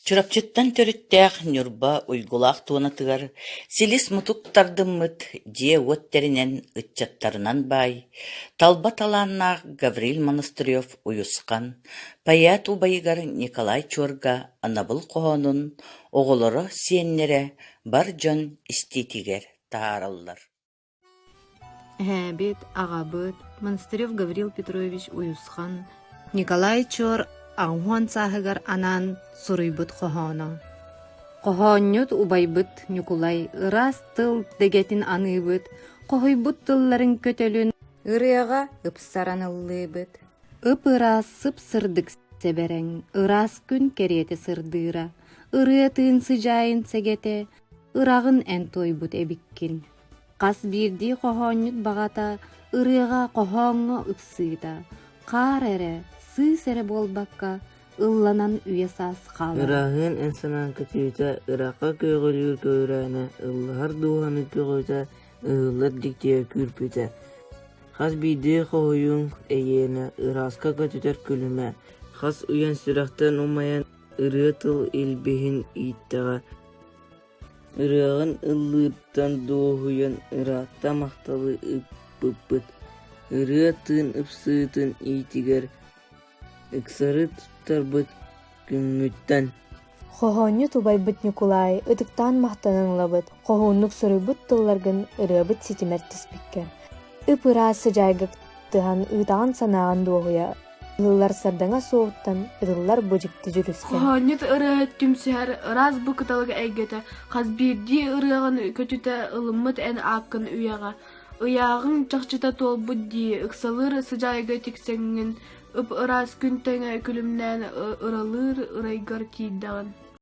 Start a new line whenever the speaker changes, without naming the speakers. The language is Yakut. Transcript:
Чурапчыттан төрүттээх Ньурба Уйгулаах туонатыгар силис-мутук тардыммыт дьиэ-уот тэринэн ыччаттарынан баай, талба талааннаах Гаврил Монастырев уйусхан, поэт убайыгар Николай Чуорга анабыл хоһоонун оҕолоро-сиэннэрэ бар дьон истиитигэр таараллар Эһээбит, аҕабыт Монастырев Гаврил Петрович Уйусхан Николай Чор аҕуһуон сааһыгар анаан суруйбут хоһооно. Хоһоонньут убайбыт Ньукулай ыраас тыл дэгэтин аныыбыт, хоһуйбут тылларын көтөлүн ырыаҕа ыпсаран ыллыыбыт. Ып-ыраас сып-сырдык сэбэрэҥ, ыраас күн кэриэтэ сырдыыра, ырыа тыын сыдьаайын сэгэтэ, ыраҕын эн туойбут эбиккин. Хас биирдии хоһоонньут баҕата ырыаҕа хоһооҥҥо ыксыыта, хаар эрэ, сыыс эрэ буолбакка, ылланан үйэ-саас хаалара. Ыраһыын эн санаан көтүүтэ, ыраахха көҕүлүүр көҕүрээнэ, ыллаһар дууһаны көҕүтэ, ыһыллар дьиктиэ күүрпүтэ. Хас биирдии хоһуйуҥ эйиэнэ, ырааска көтүтэр күлүмэ, хас уйан сүрэхтэн умайан ырыа тыл илбиһин ииттэҕэ. Ырыаҕын ыллыыттан дуоһуйан ыраатта махталы ыппыппыт, ырыа тыын ыпсыытын иитигэр ыксары туттарбыт күҥҥүттэн. Хоһоонньут убайбыт Ньукулаай ытыктаан махтанан ылабыт, хоһууннук суруйбут тылларгын ырыабыт ситимэр түспүккэ, ып-ыраас сыдьаайга кыттыһан ыытаҕын санааҕын дуоһуйа Ылыллар сардаҥа суоһуттан ытыллар бу дьикти дьүрүскэ. Хоһоонньут ырыаһыт түмсүһэр ыраас бу кыталыга эйгэтэ хас биирдии ырыаҕын көтүтэ ылыммыт эн ааккын үйэҕэ. Ыйааҕыҥ чахчыта туолбут дии, ыксалыыр сыдьаайга тиксэҥҥин, ып-ыраас күн тэҥэ күлүмнээн ыралыыр ырайгар тиийдэҕин.